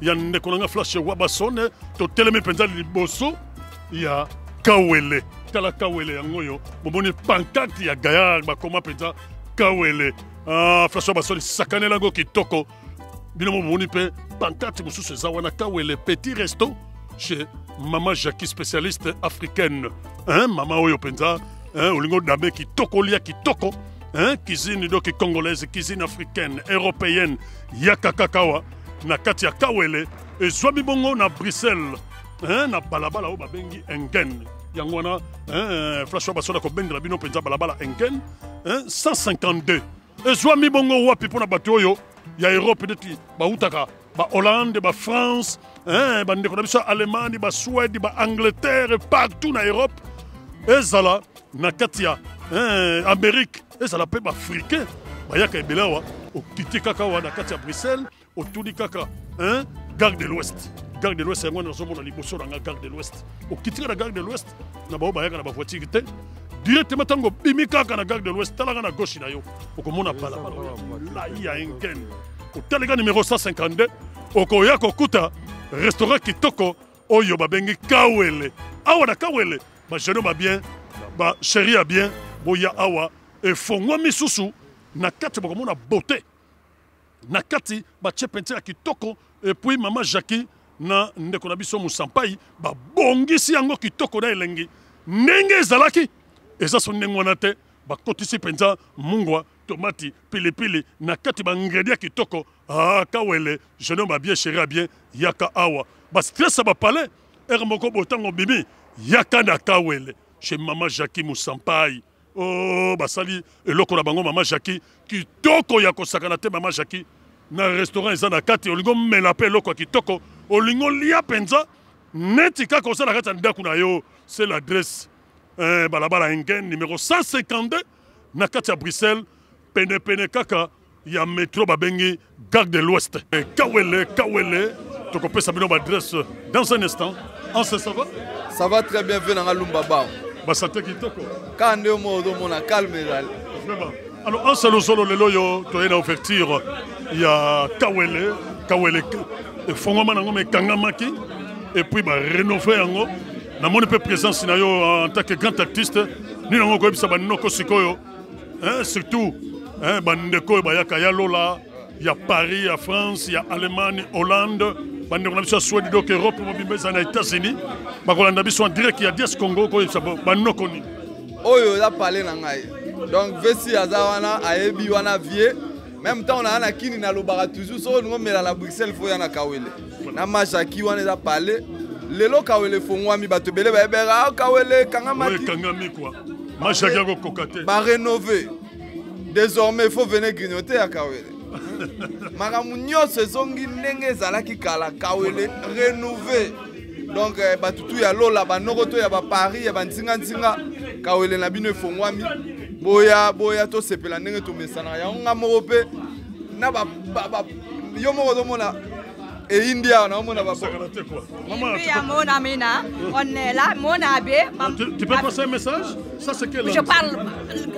ya ndeko na nga flash wabasone totelemi mpenza liboso ya kawele tala kawele yango oyo bomoni pankarte ya gayar bakoma mpenza kawele ah, flash wabasone sakanela yango kitoko bino momoni mpe pankarte mosusu eza wana kawele petit resto chez mama jacqui spécialiste africaine hein, mama oyo mpenza hein, olingi odame kitoko olia kitoko hein, cuisine doki congolaise cuisine africaine européenne yaka kakawa na kati ya kawele ezwami bongo na bruxelles eh, na balabala oyo babengi engen yango wana eh, flash basola kobendela bino mpenza balabala engen eh, 152 ezwami bongo wapi mpo na bato oyo ya europe neti bautaka bahollande bafrance eh, bandeko na biso ya allemagne basuède baangleterre partout na europe ezala na kati ya eh, amérique ezala mpe baafricain bayaka ebele awa okiti kaka awa na kati ya bruxelles otuni kaka hein? gare de l'ouest gare de l'ouest yango wana nazomona liboso na nga gare de l'ouest okitika na gare de l'ouest na baoyo bayaka na bavoitire te directement ntango obimi kaka na gare de l'ouest talaka na gauche na yo okomona balabala oyo molai ya engen otaleka numero 152 okoya kokuta restaurant kitoko oyo babengi kawele awa na kawele bageno ba bien basheri ya bien boya awa efongwami susu na kati bokomona bote na kati batie peinture ya kitoko epuis mama jacki na ndeko na biso mosampai babongisi yango kitoko na elengi ndenge ezalaki eza so ndenge wana te bakotisi mpenza mungwa tomati pilipili na kati ba ingredient kitoko ah kawele jeune homme bien chéri bien yaka awa ba stress ba palais ere moko botango bimi yaka na kawele chez maman Jackie Moussampai oh basali eloko na bango maman Jackie kitoko ya kosakana te maman Jackie na restaurant eza na kati olingo mela pe eloko kitoko olingo lia penza neti kaka osala kati ya ndako na yo c'est l'adresse eh, balabala engen numéro 152 na kati ya bruxelles penepene kaka ya metro babengi gare de l'ouest eh, kawele kawele tokopesa bino baadresse dans un instant anse ça va ça va très bien ve nanga lumba bao basante kitoko kaka nde omo ozomona calme ezali vraiment alors anse lozolo lelo oyo toye na ouverture ya kawele kawele efongwama nango ma ekangamaki epuis barenove yango namoni mpe présence na yo euh, en tant que grand artiste nini yango okoyebisa banoko sikoyo hein, surtout hein, bandeko oyo bayaka ya lola ya paris ya france ya allemagne hollande bandeko na biso ya swede donc europe mobimba ezali na états-unis bakolanda biso en direct ya dies congo okoyebisa banoko nini oyo eza pale na ngai donc vesi aza wana ayebi wana vie meme ntango naa na kini nalobaka toujours soki olingi omela na bruxelles fo ya na kawele na mashaki wana eza pale lelo kawele efongwami bato ebele bayebeka ah, kawele ekangamaki kwa mashaki akokoka te barenove désormais fo vene grignote ya kawele makambo nyonso ezongi ndenge ezalaki kala kawele renouve donc eh, bato tu ya lola banoko to ya baparis ya banzinganzinga kawele na bino efongwami boya boya tosepela ndenge tomesanaka yango nga moko mpe na ba, ba, ba, yo moko ozomona eyindi awa naomona bamonamina on est là mon abe tu peux passer un message ça c'est quel je parle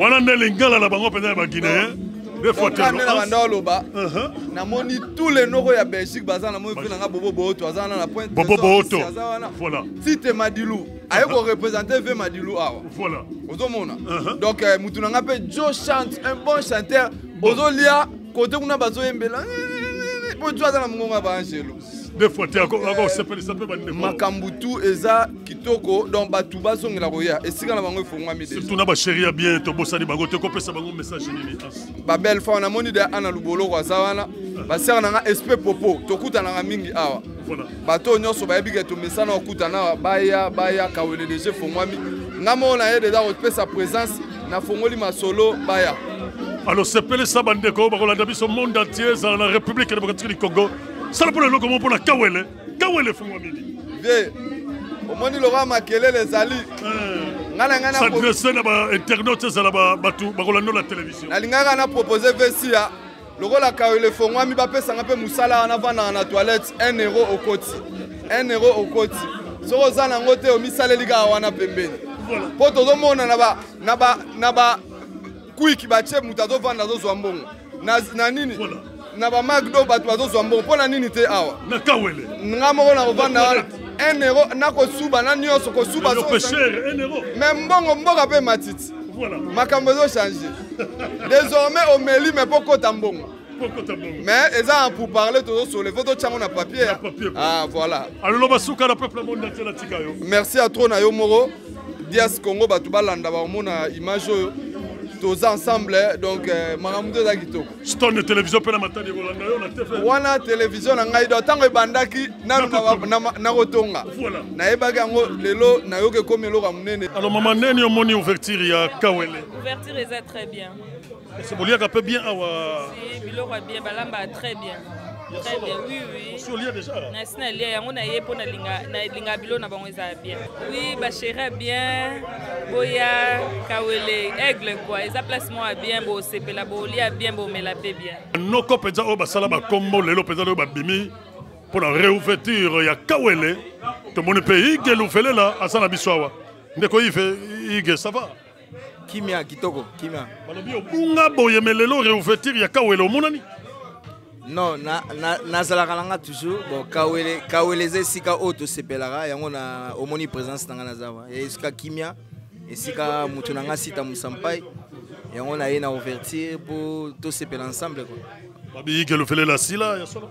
wana nde lingala na bango mpenza ya baguinéen okanela banda oloba namoni tous les noko ya belgique baza na moi nanga bobo booto aza wana na pointe bobo booto aza wana voilà tite madilu aye korepresente ve madilu awa voilà ozomona uh-huh. donc euh, motu na nga mpe jo chante un bon chanteur ozolia kote kuna bazoyembela mpo eh, eh, eh, jo aza na mongongo ya baangelo makambo tu eza kitoko donc bato bazongela koya esika na bango efongwami surtout na basheri ya bien tobosani bango te kopesa bango message nini babelle fa namoni de ana luboloko aza wana basere na nga espe popo tokutanaka mingi awa bato oyo nyonso bayebi ke tomesana kokutana awa baya baya kawele deja efongwami nga moko na ye deja kopesa présence nafongoli masolo baya alors sepelisa bandeko bakolanda biso monde entier ezala na république démocratique du congo sala mpo na eloko moko mpo na kawele kawele efungwamini vie omoni lokola makelele ezali eh. ngai na ngai s'adresse na bainternaute ezala bato bakolandola televizio nalingaka na propose vesia lokola kawele efongwami bapesanga mpe mosala wana vandaka na toilette 1 euro okoti 1 euro okoti soki oza nango te omisaleli kaka wana pembeni mpo tozomona na ba na ba na ba kwiki batie moto azovanda azozwa mbongo na, na nini voilà. na bamacdo bato bazozwa mbongo mpo na nini te awa na kawele nga moko nakovanda wana un euro nakosuba na nyonso kosuba me mbongo mboka mpe matiti voilà. makambo ezochange désormais omeli me mpo kota mbongo mais eza pour parler tozosole fo totyango na papier ah, voilà merci ya tro na yo moko dias congo bato balanda bakomona image oyo toza ensemble eh, donc eh, makambo nde eza kitoko stone télévision mpe na matadi ekolanda yo na tv wana télévision na ngai do ntango ebandaki nanu nakotonga nayebaki yango lelo nayoki ekomi eloko ya monene alors mama neni omoni ouverture ya kawele ouverture eza très bien Ese boliaka pe bien awa. Si biloko bien balamba très bien. Très bien. Oui oui. Si olia déjà. Na sina lia yango na ye pona linga na linga bilo na bango eza bien. Oui ba chérie bien. Boya kawele aigle quoi. Eza place moi bien bo sepela bo lia bien bo mela pe bien. Noko penza oyo basala ba kombo lelo penza oyo babimi mpo na réouverture ya kawele tomoni mpe ige luvelela aza na biso awa ndeko ive ige sava kimia kitoko kimia balobi obunga boye me lelo réouverture ya kawele omonani non nazalaka na, na, na nga toujours bon kawele kawele eza esika oyo tosepelaka yango na omoni présence na nga naza wa esika kimia esika moto na nga sita mosampai yango naye na ouverture mpo tosepela ensemble kua babiyike lofele la sila ya solo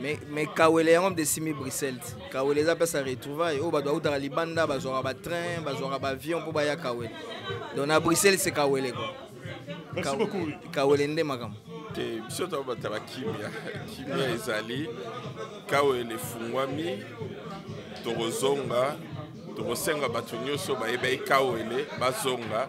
mais mais kawele yango mpe esimi bruxelles kawele eza place ya retrouvaille oyo bato bautaka libanda bazwaka batrain bazwaka baavion mpo baya kawele donc na bruxelles se kawele ko kawele nde makambo te biso to batala kimia kimia ezali kawele efungwami tokozonga tokosenga bato nyonso bayebaki kawele bazonga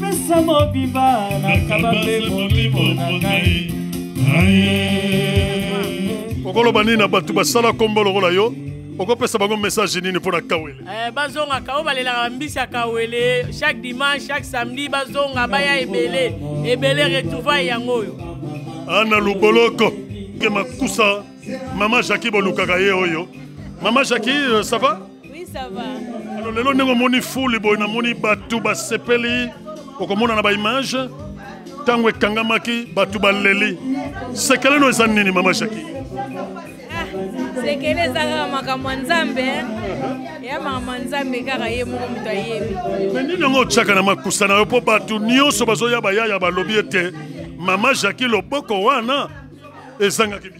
pesa mobimba nakaba mpe molimo na ngai okoloba nini na bato basala nkombo lokola yo okopesa bango message nini mpo na kawele eh, bazonga kao balelaka bambisi ya kawele chaque dimanche chaque samedi bazonga baya ebele ebele retrouvaille yango oyo ana luboloko ke makusa mama jaki bolukaka ye oyo mama jaki euh, ça va Oui, ça va. Alors, lelo ndenge omoni fuli boye namoni bato basepeli okomona na baimage ntango ekangamaki bato baleli sekele no eza nini mama jaki ah, sekele eza kaka makambo ya nzambe eh. ya makambo ya nzambe kaka ye moko moto ayebi me nini yango otyaka na makusa na yo mpo bato nyonso bazoya bayaya balobi ete mama jaki loboko wana ezangaki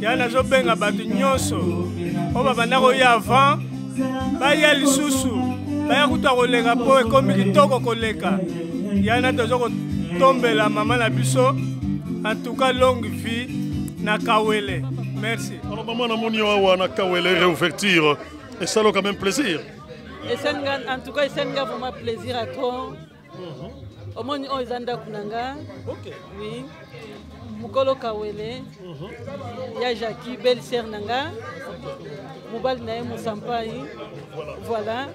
ya nazobenga bato nyonso oyo babanda koya avant baya lisusu baya kutu akoleka mpo ekomi kitoko koleka yana toza kotombela mama na biso antuka longue vie na kawele merci alors mama namoni yo awa na kawele réouverture esalo quand même plaisir esenga en tout cas esenga vraiment plaisir à trop omoni oyo eza ndako na nga oui mokolo kawele mhm. ya jaki belle sere na nga mobali na ye mosampai voilà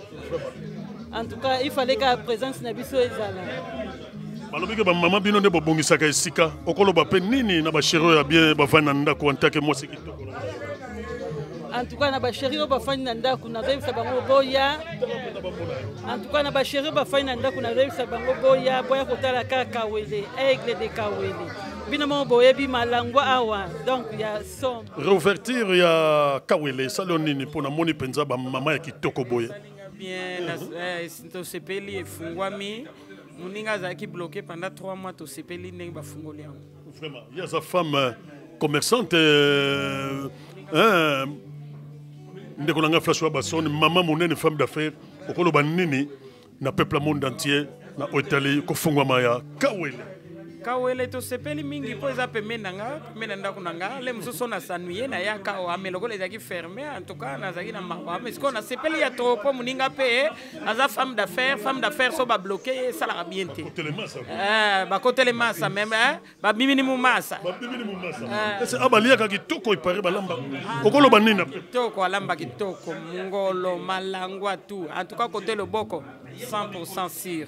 en tout cas il fallait ka présence na biso ezala balobi ke bamama bino nde bobongisaka esika okoloba mpe nini na basheri oyo ya bien bavandi na ndako antake mwasi kitoko en tout cas na basheri oyo bafandi na ndako nazoyebisa bango boya en tout cas na basheri oyo bafandi na ndako nazoyebisa bango boya boya kotala kaka kawele aigle de kawele bino moko boyebi malangwa awa donc ya som réouverture ya kawele esali yo nini mpo namoni mpenza bamama ya kitoko boye bien eh, tosepeli efungwami moninga azalaki bloke pendant 3 mois tosepeli ndenge bafungoli yango Vraiment, il y a sa femme euh, commerçante. Euh, euh, ndeko na ngai flash wa basone mama monene femme d'affaires okoloba nini na peuple monde entier na otali kofungwama ya kawele kawele tosepeli mingi mpo eza pembeni na nga pembeni na ndako na nga le mosusu nasanuye nayaka wame lokola ezalaki ferme en tout cas nazalaki na mawa me sikoyo nasepeli ya trop mpo moninga mpe aza femme d'affaire femme d'affaire so babloke ye esalaka bien te eh, bakotele masa meme eh, babimini momasa eh. ah, baliaka kitoko epare balamba okoloba nini kitoko alamba kitoko ngolo malangwa tout en tout cas kote loboko 100 sur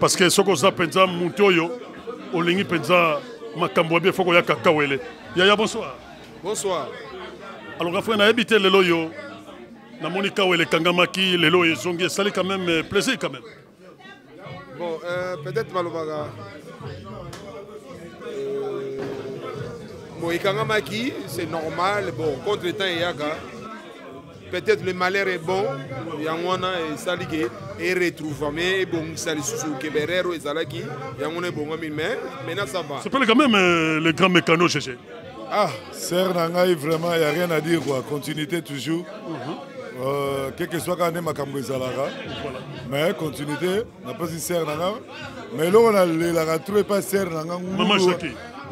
parce que soki oza mpenza moto oyo olingi mpenza makambo ya bien foko ya kakawele yaya bonsoir bonsoir alors afre nayebi te lelo oyo namoni kawele ekangamaki lelo oyo ezongi esali quand même euh, plaisir quand même bon euh, peut-être malobaka euh, bon ekangamaki c'est normal bon contre temps eyaka peut-être le malheur est bon yango wana esali ke eretrouvame ebongisa lisusu keberero ezalaki yango wana ebongami mais maintenant ça va s'appelle quand même euh, le grand mécano cheche ah sœur na ngai vraiment ya rien à dire quoi continuité toujours mm -hmm. euh, quelque soit kaka nde makambo ezalaka mais continuité napesi sere na nga ma eloko nalelaka tro epa sere na nga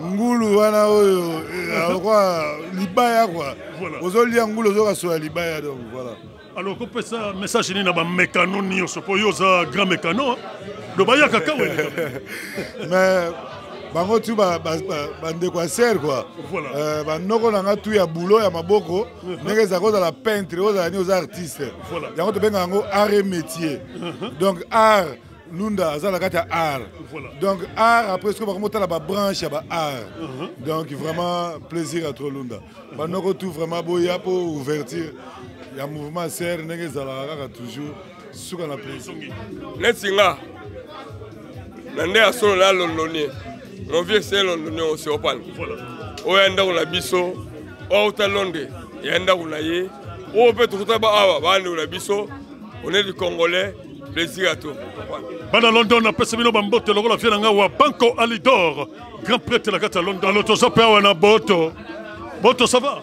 ngulu wana oyo alokwa eh, libaya kua ozolia ngulu ozokasola libaya donc voilà alors kopesa message nini na bamekano nyonso mpo yo oza grand mekano do bayaka kaka mais bango tu bandeko ya sere kua banoko na nga tu ya bulo ya maboko ndenge ezalaka ozala peintre ozala nini oza artiste yango tobengaka yango art et métier uh-huh. donc art lunda aza na kati ya art donc art après soki bakoma otala babranche ya baart uh-huh. donc vraiment plaisir à trop lunda banoko tout vraiment boya mpo ouverture ya mouvement serre ndenge ezalaka kaka toujours suka na plaisir neti nga na nde ya solo na londonien mon vieux se londonien oseopane oyo ya ndako na biso outa londe ya ndako na ye oyo mpe tokuta ba awa bandeko na biso onedi congolais plaisir à tout bana london napesi bino bambote lokola vie na ngai wa banco alidor grand prêtre na kati ya london alo toza mpe awa na boto boto ça va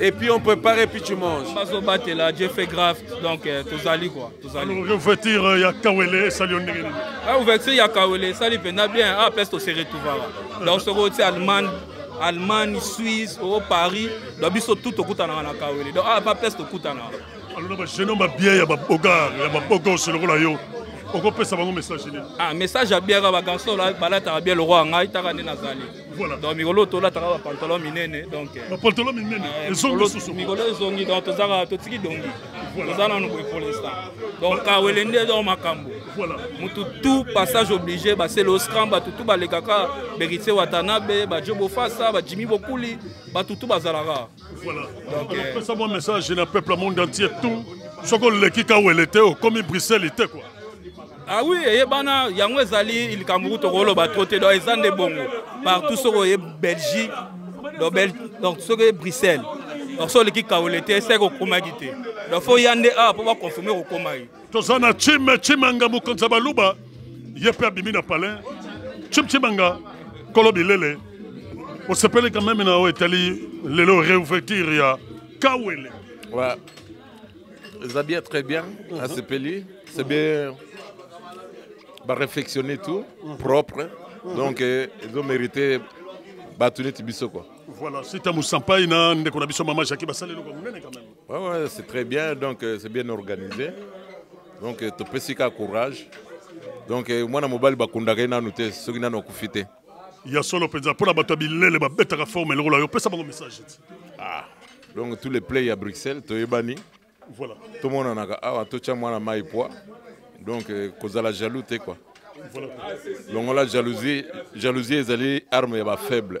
et puis on prépare et puis tu manges bazo batela je fais grave donc euh, tozali quoi tozali ouverture euh, ya kawele esali yo ndenge nini ah ouverture ya kawele esali mpenza bien ah place tose retrouvaka donc soki oti allemagne allemagne suisse o oh, paris donc biso tout tokutanaka na kawele donc ah pa place tokutanaka alona bajeune homme babia ya babogar ya babogose lokola yo okopesa bango message nini ah message ya biaka bagarçon balataka bia lokwa ngai taka nde nazali Voilà. Donc mikolo tolataka ba pantalon minene donc. Euh, ba pantalon minene euh, ezongi susu. Mikolo ezongi donc tozaka totiki dongi. Toza nanu boye pour l'instant. Donc kawele nde donc makambo. Voilà. Mutu tout passage obligé ba c'est le scram ba tout ba lekaka Beritse Watanabe ba Jobo Fasa ba Jimmy Bokuli ba tout bazalaka. Voilà. Donc, euh, pesa mwa message na peuple ya monde entier tout soki oleki kawele te okomi bruxelles te kua Ah oui, eyebana yango ezali likambo kutu okoloba trop te donc eza nde bongo partout soki oye belgique donc Bel- donc soki oye bruxelles donc soki oleki kawele te seke okomaki te donc fo ya nde awa mpo baconfirme kokomaki toza na chime chimanga mokonzi ya baluba ye mpe abimi na palin chime chimanga kolo bilele osepeli quand même na oyo etali lelo réouverture ya kawele ouais. eza bien très bien mhm. asepeli c'est bien baréflexionne tout mhm. propre mhm. donc eh, ezo mérité bato neti biso quoi voilà sita mosampai na ndeko na biso mama jaki basali eloko monene quand même Ouais, ouais, c'est très bien, donc euh, c'est bien organisé. Donc euh, topesi ka courage. Donc euh, mwana mobali bakundaka ye nanu te soki nanu akufi te. ya solo mpenza mpo na bato ya bilele babetaka forme lokola yo pesa bango message ti Ah. Donc tous les play ya Bruxelles toyebani. voilà tomonanaka awa totya mwana mai poa donc euh, kozala jaloux te quoi voilà longola jalousie jalousie ezali arme ya bafaible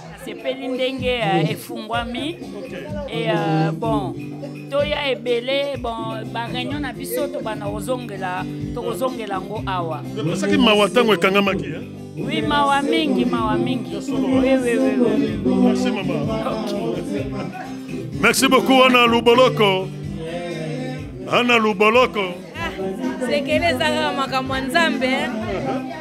nasepeli ndenge uh, efungwami e uh, bon toya ebele bon bareunion na biso tobanda kozongela tokozongela yango awa osaki mawa ntango ekangamaki eh? Oui, mawa mingi, mawa mingi. Oui, oui, oui, oui. Merci, maman. Okay. Merci beaucoup, Anna Luboloko. Anna Luboloko. sekele eza kaka makambo ya nzambe eh.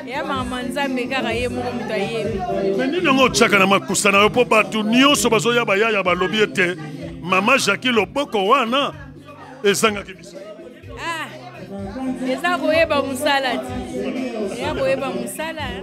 ya makambo ya nzambe kaka ye moko moto ayebi me nini yango otyaka na makusa na yo mpo bato nyonso bazoya bayaya balobi ete mama jaki loboko wana ezangaki biso ah, eza koyeba mosala ti eza koyeba mosala eh.